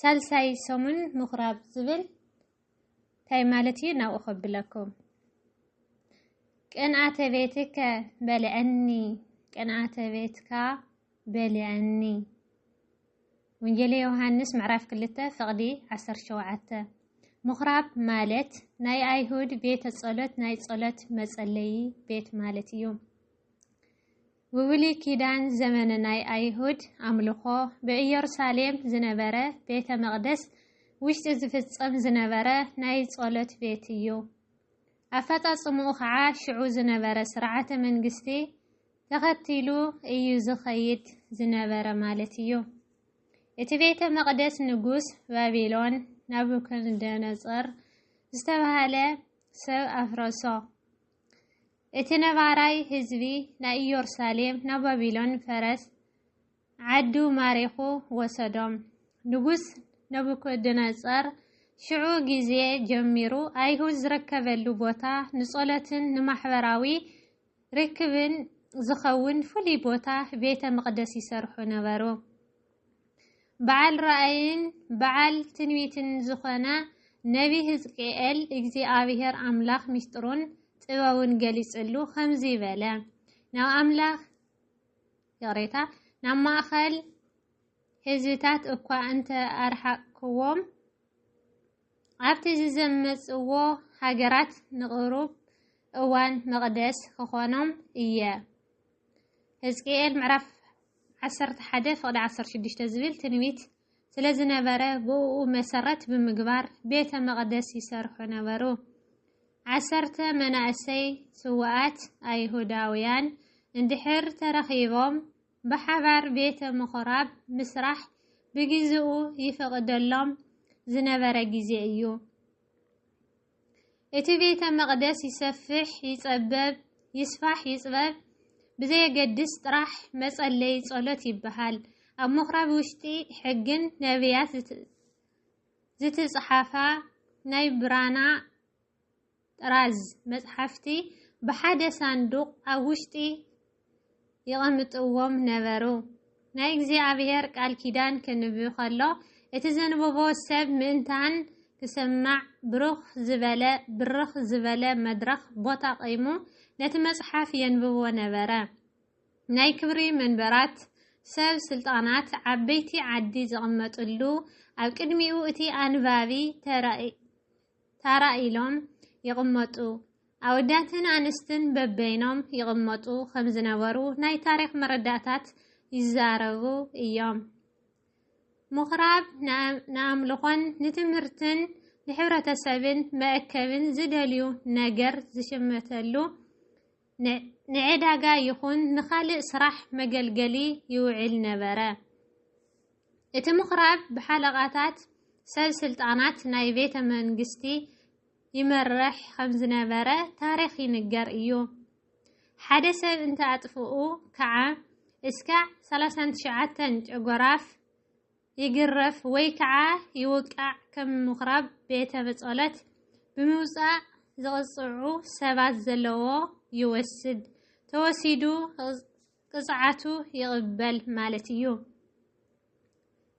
ሳልሳይ ሰሙን ምኩራብ ዝብል እንታይ ማለት እዩ? ናብኡ ከብለኩም ቅንኣተ ቤትከ በልዐኒ፣ ቅንኣተ ቤትካ በልዐኒ። ወንጌል ዮሃንስ ምዕራፍ ክልተ ፍቕዲ ዓሰርተ ሸውዓተ ምኩራብ ማለት ናይ ኣይሁድ ቤተ ጸሎት ናይ ጸሎት መጸለዪ ቤት ማለት እዩ። ብብሉይ ኪዳን ዘመነ ናይ ኣይሁድ ኣምልኾ ብእየሩሳሌም ዝነበረ ቤተ መቕደስ ውሽጢ ዝፍጸም ዝነበረ ናይ ጸሎት ቤት እዩ። ኣፈጻጽምኡ ኸዓ ሽዑ ዝነበረ ስርዓተ መንግስቲ ተኸቲሉ እዩ ዝኸይድ ዝነበረ ማለት እዩ። እቲ ቤተ መቕደስ ንጉስ ባቢሎን ናቡከደነጾር ዝተባህለ ሰብ ኣፍረሶ። እቲ ነባራይ ህዝቢ ናይ ኢዮርሳሌም ናብ ባቢሎን ፈረስ ዓዱ ማሪኹ ወሰዶም። ንጉስ ነቡከደነጸር ሽዑ ግዜ ጀሚሩ ኣይሁድ ዝርከበሉ ቦታ ንጸሎትን ንማሕበራዊ ርክብን ዝኸውን ፍሉይ ቦታ ቤተ መቕደስ ይሰርሑ ነበሩ። በዓል ራእይን በዓል ትንቢትን ዝኾነ ነቢ ህዝቅኤል እግዚኣብሔር ኣምላኽ ምስጢሩን ጥበቡን ገሊጽሉ ከምዚ በለ ናብ ኣምላኽ ይቕሬታ ናብ ማእኸል ህዝብታት እኳ እንተ ኣርሓቅክዎም ኣብቲ ዝዘመጽዎ ሃገራት ንቕሩብ እዋን መቕደስ ኽኾኖም እየ። ህዝቅኤል ምዕራፍ ዓሰርተ ሓደ ፍቕዲ ዓሰርተ ሽዱሽተ ዝብል ትንቢት ስለ ዝነበረ ብእኡ መሰረት ብምግባር ቤተ መቕደስ ይሰርሑ ነበሩ። ዓሰርተ መናእሰይ ስውኣት ኣይሁዳውያን እንድሕር ተረኺቦም ብሓባር ቤተ ምኹራብ ምስራሕ ብግዜኡ ይፍቕደሎም ዝነበረ ግዜ እዩ። እቲ ቤተ መቕደስ ይሰፍሕ ይጸበብ፣ ይስፋሕ ይጽበብ ብዘየገድስ ጥራሕ መጸለዪ ጸሎት ይበሃል። ኣብ ምኹራብ ውሽጢ ሕግን ነብያት ዝትጽሓፋ ናይ ብራና ጥራዝ መጽሓፍቲ ብሓደ ሳንዱቕ ኣብ ውሽጢ የቐምጥዎም ነበሩ። ናይ እግዚኣብሔር ቃል ኪዳን ከንብብ ከሎ እቲ ዘንብቦ ሰብ ምእንታን ክሰማዕ ብሩኽ ዝበለ ብርኽ ዝበለ መድረኽ ቦታ ቀይሙ ነቲ መጽሓፍ የንብቦ ነበረ። ናይ ክብሪ መንበራት ሰብ ስልጣናት ዓበይቲ ዓዲ ዝቕመጥሉ ኣብ ቅድሚኡ እቲ ኣንባቢ ታራ ኢሎም ይቕመጡ። ኣወዳትን ኣንስትን በበይኖም ይቕመጡ ከም ዝነበሩ ናይ ታሪኽ መረዳእታት ይዛረቡ እዮም። ምኹራብ ንኣምልኾን ንትምህርትን ንሕብረተሰብን መእከብን ዝደልዩ ነገር ዝሽመተሉ ንዕዳጋ ይኹን ንኻልእ ስራሕ መገልገሊ ይውዕል ነበረ። እቲ ምኹራብ ብሓለቓታት ሰብ ስልጣናት ናይ ቤተ መንግስቲ ይመርሕ ከም ዝነበረ ታሪኽ ይንገር እዩ። ሓደ ሰብ እንተ ኣጥፍኡ ከዓ እስካዕ 39 ጨጎራፍ ይግረፍ ወይ ከዓ ይውቃዕ ከም ምኹራብ ቤተ ብፆለት ብምውፃእ ዝቕፅዑ ሰባት ዘለዎ ይወስድ ተወሲዱ ቅፅዓቱ ይቕበል ማለት እዩ።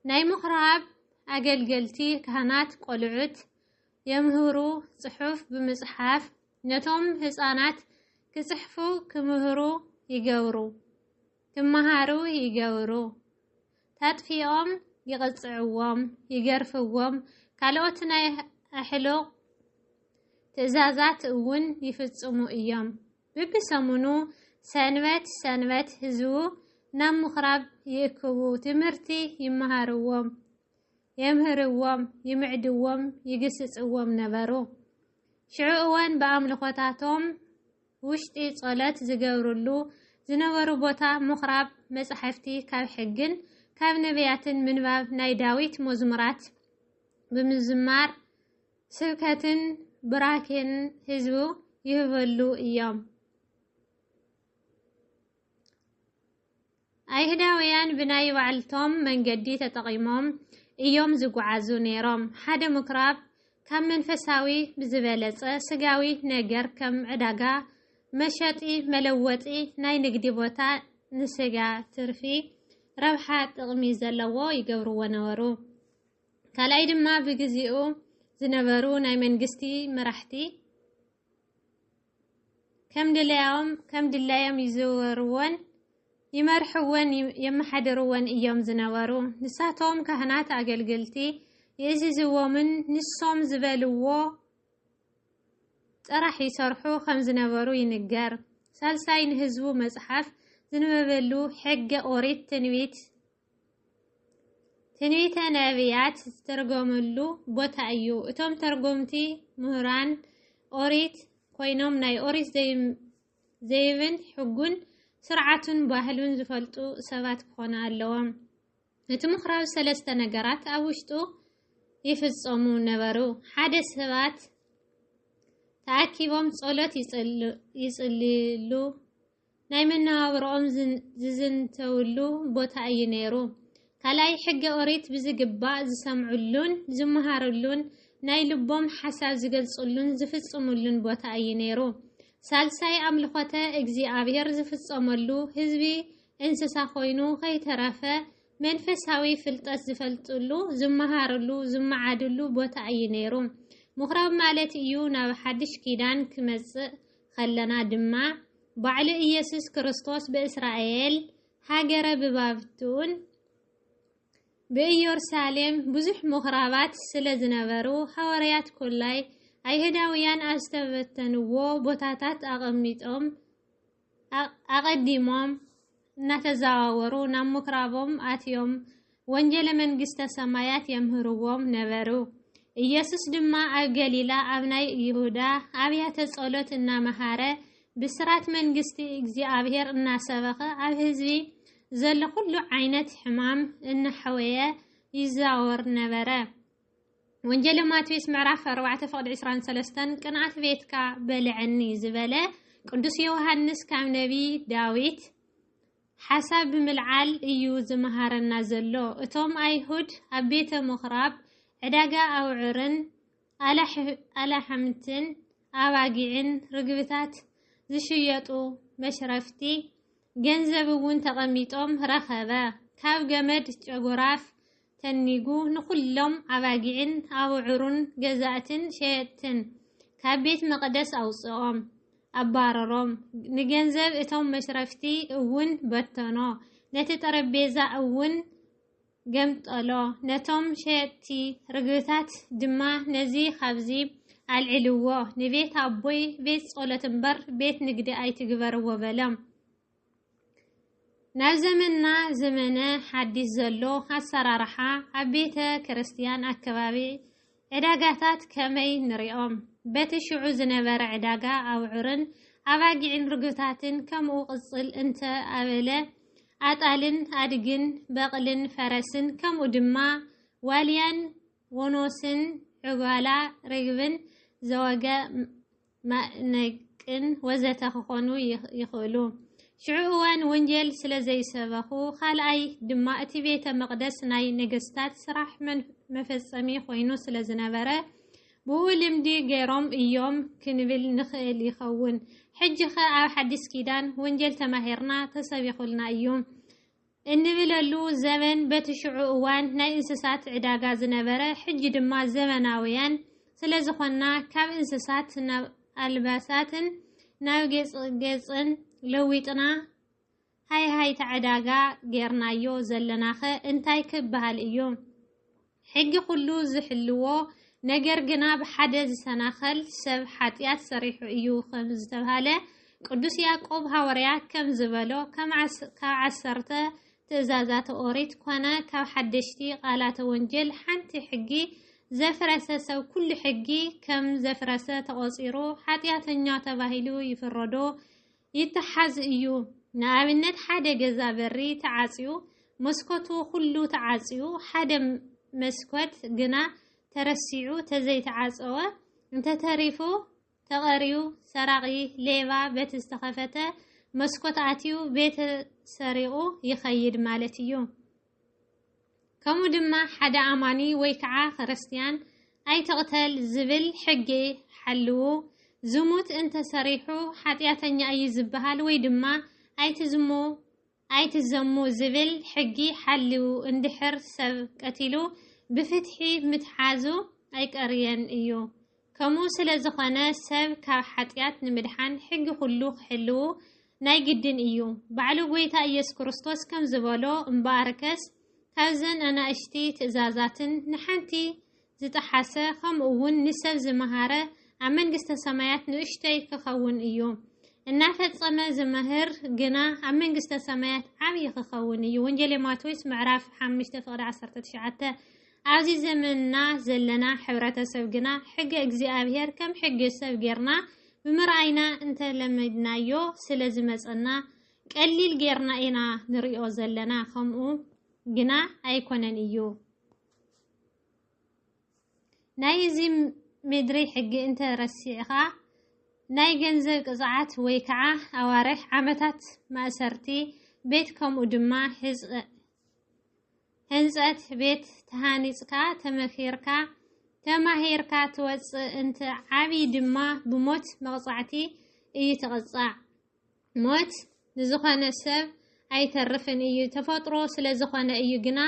ናይ ምኹራብ ኣገልገልቲ ካህናት ቆልዑት የምህሩ ፅሑፍ ብምፅሓፍ ነቶም ህፃናት ክፅሕፉ ክምህሩ ይገብሩ። ክመሃሩ ይገብሩ፣ ተጥፊኦም ይቕጽዕዎም፣ ይገርፍዎም፣ ካልኦት ናይ ኣሕሉቕ ትእዛዛት እውን ይፍጽሙ እዮም። ብብሰሙኑ ሰንበት ሰንበት ህዝቡ ናብ ምኹራብ ይእክቡ፣ ትምህርቲ ይመሃርዎም። የምህርዎም፣ ይምዕድዎም፣ ይግስጽዎም ነበሩ። ሽዑ እወን ብኣምልኾታቶም ውሽጢ ጸሎት ዝገብርሉ ዝነበሩ ቦታ ምኹራብ መጻሕፍቲ ካብ ሕግን ካብ ነቢያትን ምንባብ ናይ ዳዊት መዝሙራት ብምዝማር ስብከትን ብራኬን ህዝቡ ይህበሉ እዮም። ኣይሁዳውያን ብናይ ባዕልቶም መንገዲ ተጠቒሞም እዮም ዝጓዓዙ ነይሮም። ሓደ ምኵራብ ካብ መንፈሳዊ ብዝበለጸ ስጋዊ ነገር ከም ዕዳጋ፣ መሸጢ መለወጢ፣ ናይ ንግዲ ቦታ ንስጋ ትርፊ፣ ረብሓ፣ ጥቕሚ ዘለዎ ይገብርዎ ነበሩ። ካልኣይ ድማ ብግዜኡ ዝነበሩ ናይ መንግስቲ መራሕቲ፣ ከም ድላዮም ይዝውርዎን ይመርሕዎን የመሓድርዎን እዮም ዝነበሩ። ንሳቶም ካህናት ኣገልግልቲ የእዝዝዎምን ንሶም ዝበልዎ ጥራሕ ይሰርሑ ከም ዝነበሩ ይንገር። ሳልሳይ ንህዝቡ መጽሓፍ ዝንበበሉ ሕገ ኦሪት ትንቢት ትንቢተ ነቢያት ዝተርጎመሉ ቦታ እዩ። እቶም ተርጎምቲ ምሁራን ኦሪት ኮይኖም ናይ ኦሪት ዘይብን ሕጉን ስርዓቱን ባህሉን ዝፈልጡ ሰባት ክኾኑ ኣለዎም። እቲ ምኽራብ ሰለስተ ነገራት ኣብ ውሽጡ ይፍጸሙ ነበሩ። ሓደ ሰባት ተኣኪቦም ጸሎት ይጽልሉ፣ ናይ መነባብሮኦም ዝዝንተውሉ ቦታ እዩ ነይሩ። ካልኣይ ሕገ ኦሪት ብዝግባእ ዝሰምዕሉን ዝመሃርሉን ናይ ልቦም ሓሳብ ዝገልጽሉን ዝፍጽምሉን ቦታ እዩ ነይሩ። ሳልሳይ ኣምልኾተ እግዚኣብሔር ዝፍጸመሉ ህዝቢ እንስሳ ኮይኑ ከይተረፈ መንፈሳዊ ፍልጠት ዝፈልጥሉ፣ ዝመሃርሉ፣ ዝመዓድሉ ቦታ እዩ ነይሩ። ምኩራብ ማለት እዩ ናብ ሓድሽ ኪዳን ክመጽእ ኸለና ድማ ባዕሉ ኢየሱስ ክርስቶስ ብእስራኤል ሃገረ ብባብቱን ብኢዮርሳሌም ብዙሕ ምኹራባት ስለ ዝነበሩ ሃዋርያት ኮላይ ኣይሁዳውያን ኣብ ዝተበተንዎ ቦታታት ኣቐሚጦም ኣቐዲሞም እናተዛዋወሩ ናብ ምኵራቦም ኣትዮም ወንጌለ መንግስተ ሰማያት የምህርዎም ነበሩ። ኢየሱስ ድማ ኣብ ገሊላ ኣብ ናይ ይሁዳ ኣብያተ ጸሎት እናመሃረ ብስራት መንግስቲ እግዚኣብሔር እናሰበኸ ኣብ ህዝቢ ዘሎ ኩሉ ዓይነት ሕማም እናሐወየ ይዛወር ነበረ። ወንጀለ ማቴዎስ ምዕራፍ 4 ፍቕዲ 23 ቅንኣት ቤትካ በልዐኒ ዝበለ ቅዱስ ዮሃንስ ካብ ነቢ ዳዊት ሓሳብ ብምልዓል እዩ ዝመሃረና ዘሎ። እቶም ኣይሁድ ኣብ ቤተ ምኹራብ ዕዳጋ ኣውዕርን ኣላሕምትን ኣባጊዕን ርግብታት ዝሽየጡ መሽረፍቲ ገንዘብ እውን ተቐሚጦም ረኸበ። ካብ ገመድ ጨጉራፍ ተኒጉ ንዅሎም ኣባጊዕን ኣብዑሩን ገዛእትን ሸየጥትን ካብ ቤት መቕደስ ኣውጽኦም፣ ኣባረሮም፣ ንገንዘብ እቶም መሽረፍቲ እውን በተኖ፣ ነቲ ጠረጴዛ እውን ገምጠሎ፣ ነቶም ሸየጥቲ ርግብታት ድማ ነዚ ኻብዚ ኣልዕልዎ፣ ንቤት ኣቦይ ቤት ጸሎት እምበር፣ ቤት ንግዲ ኣይትግበርዎ በሎም። ናብ ዘመንና ዘመነ ሓዲስ ዘሎ ኣሰራርሓ ኣብ ቤተ ክርስቲያን ኣከባቢ ዕዳጋታት ከመይ ንሪኦም? በቲ ሽዑ ዝነበረ ዕዳጋ ኣውዕርን ኣባጊዕን ርግብታትን ከምኡ ቅፅል እንተ ኣበለ ኣጣልን ኣድግን በቕልን ፈረስን ከምኡ ድማ ዋልያን ወኖስን ዕጓላ ርግብን ዘወገ ማእነቅን ወዘተ ክኾኑ ይኽእሉ። ሽዑ እዋን ወንጀል ስለ ዘይሰበኹ፣ ካልኣይ ድማ እቲ ቤተ መቕደስ ናይ ነገስታት ስራሕ መፈጸሚ ኮይኑ ስለ ዝነበረ ብኡ ልምዲ ገይሮም እዮም ክንብል ንኽእል ይኸውን። ሕጂኸ ኣብ ሓዲስ ኪዳን ወንጀል ተማሂርና ተሰቢኹልና እዩ። እንብለሉ ዘበን በቲ ሽዑ እዋን ናይ እንስሳት ዕዳጋ ዝነበረ ሕጂ ድማ ዘበናውያን ስለዝኾንና ካብ እንስሳት ናብ ኣልባሳትን ናብ ጌጽጌጽን ለዊጥና ሃይሃይታ ዕዳጋ ጌርናዮ ዘለናኸ እንታይ ክበሃል እዩ? ሕጊ ኩሉ ዝሕልዎ ነገር ግና ብሓደ ዝሰናኸል ሰብ ሓጢኣት ሰሪሑ እዩ ከም ዝተብሃለ ቅዱስ ያዕቆብ ሃወርያ ከም ዝበሎ ካብ ዓሰርተ ትእዛዛተ ኦሪት ኮነ ካብ ሓደሽቲ ቃላተ ወንጀል ሓንቲ ሕጊ ዘፍረሰ ሰብ ኩሉ ሕጊ ከም ዘፍረሰ ተቖጺሩ ሓጢኣተኛ ተባሂሉ ይፍረዶ ይተሓዝ እዩ። ንኣብነት ሓደ ገዛ በሪ ተዓጽዩ፣ መስኮቱ ኩሉ ተዓጽዩ፣ ሓደ መስኮት ግና ተረሲዑ ተዘይተዓጸወ እንተተሪፉ ተቐርዩ ሰራቒ፣ ሌባ፣ በቲ ዝተኸፈተ መስኮት ኣትዩ ቤተ ሰሪቑ ይኸይድ ማለት እዩ። ከምኡ ድማ ሓደ ኣማኒ ወይ ከዓ ክርስትያን ኣይትቕተል ዝብል ሕጊ ሓልዉ። ዝሙት እንተሰሪሑ ሓጢኣተኛ እዩ ዝበሃል ወይ ድማ ኣይትዝሙ ኣይትዘሙ ዝብል ሕጊ ሓልዉ እንድሕር ሰብ ቀቲሉ ብፍትሒ ምትሓዙ ኣይቀርየን እዩ። ከምኡ ስለ ዝኾነ ሰብ ካብ ሓጢኣት ንምድሓን ሕጊ ኩሉ ክሕልዉ ናይ ግድን እዩ። ባዕሉ ጎይታ ኢየሱስ ክርስቶስ ከም ዝበሎ እምበኣርከስ ካብዘን ኣናእሽቲ ትእዛዛትን ንሓንቲ ዝጠሓሰ ከምኡውን ንሰብ ዝመሃረ ኣብ መንግስተ ሰማያት ንእሽቶይ ክኸውን እዩ። እናፈጸመ ዝምህር ግና ኣብ መንግስተ ሰማያት ዓብዪ ክኸውን እዩ። ወንጌል ማቴዎስ ምዕራፍ 5 ፍቕዲ 19 ኣብዚ ዘመንና ዘለና ሕብረተሰብ ግና ሕገ እግዚኣብሔር ከም ሕገ ሰብ ጌርና ብምርኣይና እንተለመድናዮ ስለ ዝመጸና ቀሊል ጌርና ኢና ንሪኦ ዘለና ከምኡ ግና ኣይኮነን እዩ ናይ እዚ ምድሪ ሕጊ እንተ ረሲዕኻ ናይ ገንዘብ ቅፅዓት ወይ ከዓ ኣዋርሕ ዓመታት ማእሰርቲ ቤት ከምኡ ድማ ህንፀት ቤት ተሃኒፅካ፣ ተመኺርካ፣ ተማሂርካ ትወፅእ እንተ ዓብዪ ድማ ብሞት መቕፃዕቲ እዩ ትቕፃዕ። ሞት ንዝኾነ ሰብ ኣይተርፍን እዩ ተፈጥሮ ስለዝኾነ እዩ ግና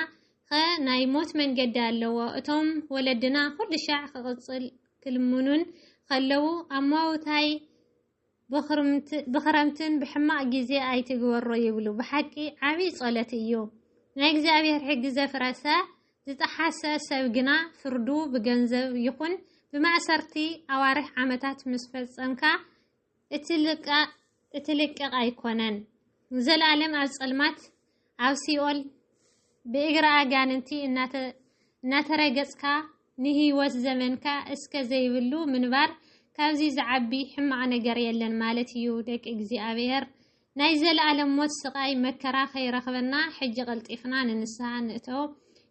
ኸ ናይ ሞት መንገዲ ኣለዎ። እቶም ወለድና ኩልሻዕ ክቕፅል ክልምኑን ኸለዉ ኣማውታይ ብኽረምትን ብሕማቕ ግዜ ኣይትግበሮ ይብሉ ብሓቂ ዓብይ ጸሎት እዩ ናይ እግዚኣብሔር ሕጊ ዘፍረሰ ዝጠሓሰ ሰብ ግና ፍርዱ ብገንዘብ ይኹን ብማእሰርቲ ኣዋርሕ ዓመታት ምስ ፈጸምካ እትልቀቕ ኣይኮነን ዘልኣለም ኣብ ጸልማት ኣብ ሲኦል ብእግሪ ኣጋንንቲ እናተረገጽካ ንህይወት ዘመንካ እስከ ዘይብሉ ምንባር ካብዚ ዝዓቢ ሕማቕ ነገር የለን ማለት እዩ። ደቂ እግዚኣብሔር ናይ ዘለኣለም ሞት ስቓይ መከራ ከይረኽበና ሕጂ ቀልጢፍና ንንስሓ ንእተው።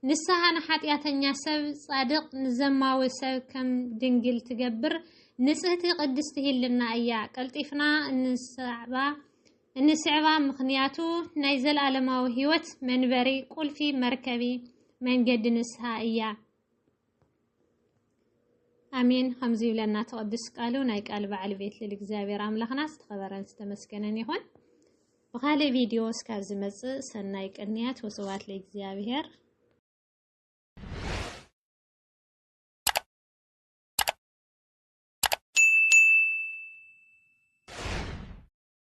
ንስሓ ንሓጢኣተኛ ሰብ ጻድቕ ንዘማዊ ሰብ ከም ድንግል ትገብር ንጽህቲ ቅድስቲ ህልና እያ። ቀልጢፍና እንሰዕባ እንስዕባ ምኽንያቱ ናይ ዘለኣለማዊ ሕይወት መንበሪ ቁልፊ መርከቢ መንገዲ ንስሓ እያ። ኣሜን ከምዚ ይብለና ተቐድስ ቃሉ ናይ ቃል በዓል ቤት ልል እግዚኣብሔር ኣምላኽና ዝተኸበረን ዝተመስገነን ይኹን። ብኻልእ ቪድዮ እስካብ ዝመጽእ ሰናይ ቅንያት ወስብሐት ለእግዚኣብሔር።